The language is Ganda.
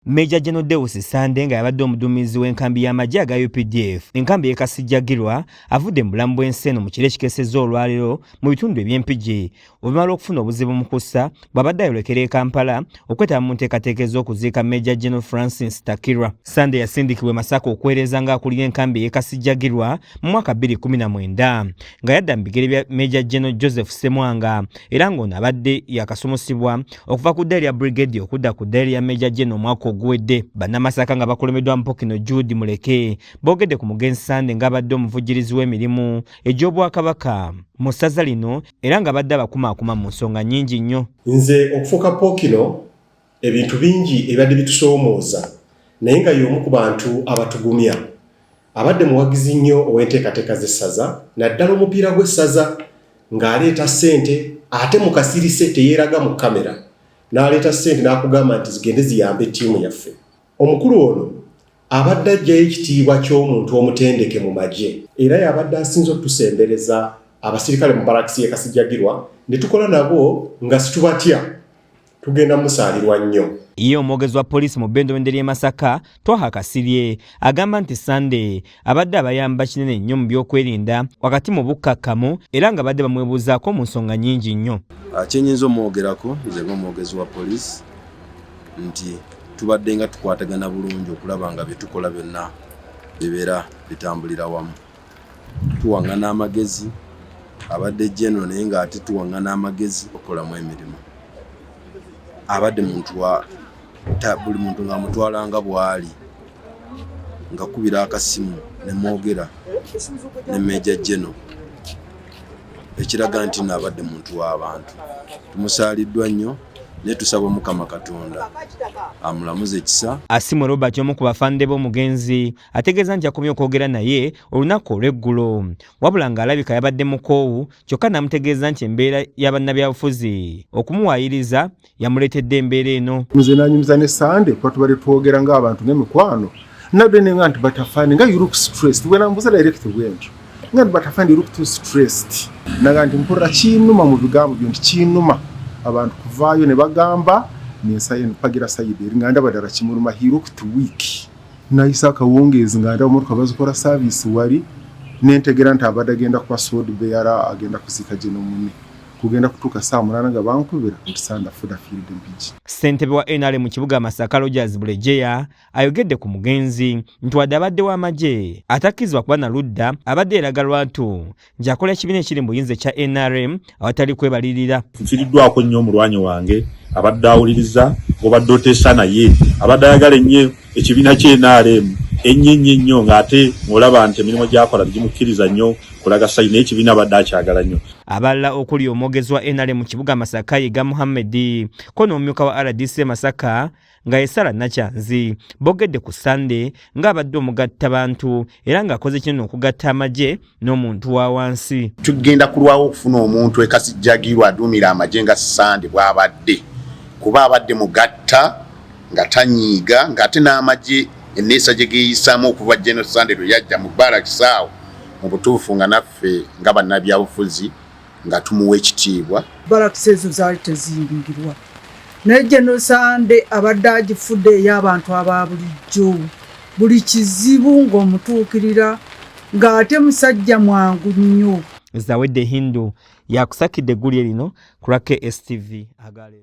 Major General Deus Sande nga yabadde omuduumizi w'enkambi y'amagye aga UPDF enkambi y'e Kasijjagirwa avudde mu bulamu bw'ensi eno mu kiro ekikesezza olwaleero mu bitundu eby'empigi oluvannyuma lw'okufuna obuzibu mu kussa bw'abadde ayolekera e Kampala okwetaba mu nteekateeka ez'okuziika Major General Francis Takirwa. Sande yasindikibwa e Masaka okuweereza ng'akulira enkambi ey'e Kasijjagirwa mu mwaka 2019. nga yadda mu bigere bya meja geno joseph semwanga era ng'ono abadde yakasomusibwa okuva ku ddaali ya brigade okudda ku ddaali ya meja geno omwaka oguwedde bannamasaka nga bakulembeddwa mpokino jude muleke boogedde ku mugenzi sande ng'abadde omuvujjirizi w'emirimu egy'obwakabaka mu ssaza lino era nga badde abakumaakuma mu nsonga nnyingi nnyo nze okufuuka pokino Ebintu bingi ebibadde bitusoomooza naye nga y'omu ku bantu abatugumya. Abadde muwagizi nnyo ow'enteekateeka z'essaza naddala omupiira gw'essaza ng'aleeta ssente ate mu kasirise teyeeraga mu kkamera n'aleeta ssente n'akugamba nti zigende ziyambe ttiimu yaffe. Omukulu ono abadde aggyayo ekitiibwa ky'omuntu omutendeke mu magye. Era y'abadde asinze okutusembereza abasirikale mu balakisi y'e Kasijjagirwa ne tukola nabo nga situbatya. tugenda musaalirwa nnyo Ye omwogezi wa poliisi mu bendobende ly'e Masaka, Twaha Kasirye agamba nti Sunday abadde abayamba kinene nnyo mu byokwerinda wakati mu bukkakkamu era nga badde bamwebuuzaako mu nsonga nnyingi nnyo. Ah, kyenyinza omwogerako nze ng'omwogezi wa poliisi nti tubadde nga tukwatagana bulungi okulaba nga byetukola byonna bibeera bitambulira wamu. tuwaŋŋana amagezi abadde jeno naye ng'ate tuwaŋŋana amagezi okukolamu emirimu abadde muntu wa buli muntu ng'amutwala nga bw'ali ngakubira akasimu ne mwogera ne meja jeno ekiraga nti naabadde muntu w'abantu tumusaaliddwa nnyo naye tusaba omukama katonda amulamuze ekisa asimwe robert omu ku bafande b'omugenzi ategeeza nti yakomye okwogera naye olunaku olw'eggulo wabula ng'alabika yabadde mukoowu kyokka n'amutegeeza nti embeera ya bannabyabufuzi okumuwaayiriza yamuleetedde embeera eno nze nanyumiza ne sande kuba tubadde twogera ng'abantu n'emikwano nabde ne nga nti batafani nga you look stressed wena mbuza direct bwentyo nga nti batafani you look too stressed naga nti mpulira kinuma mu bigambo byo nti kinuma abantu kuvaayo ne bagamba nensayo nepagira sayidi eri nga ndaba ddala kimuluma he look too weak nayise akawungeezi nga ndaba motoka bazikola saaviisi wali nentegera nti abadde agenda kuba sod beyara agenda kuziika gye nomune kugenda kutuuka saa munana nga bankubira nti sanda fuda fiiridde mpigi ssentebe wa nrm mu kibuga masaka rogers bulejeya ayogedde ku mugenzi nti wadde abadde w'amagye atakkizibwa kuba na ludda abadde eraga lwatu gyakola ekibiina ekiri mu buyinza ekya nrm awatali kwebalirira nfiriddwako nnyo omulwanyi wange abadde awuliriza obadde oteesa naye abadde ayagala ennyo ekibiina kye nrm ennyo ennyo ennyo ng'ate ng'olaba nti emirimu gyakola tegimukkiriza nnyo kulaga sayi naye ekibiina abadde akyagala nnyo abalala okuli omwogezi wa nrm mu kibuga masaka yiga muhammedi ko n'omumyuka wa rdc masaka nga ye sara nakyanzi bogedde ku sande ng'abadde omugatta bantu era ng'akoze kinene okugatta amagye n'omuntu wa wansi tugenda kulwawo okufuna omuntu ekasijjagirwa aduumira amagye nga sande bw'abadde kuba abadde mugatta nga tanyiiga ng'ate n'amagye enneesa gye geeyisaamu okuva geno sande lwe yajja mu baalakisaawo mu butuufu nga naffe nga bannabyabufuzi nga tumuwa ekitiibwa. Balakisi ezo zaali teziyingirwa naye genosande abadde agifudde ey'abantu aba bulijjo buli kizibu ng'omutuukirira ng'ate musajja mwangu nnyo. Zawedde Hindu yakusakidde eggulire lino ku lwa KSTV agaleero.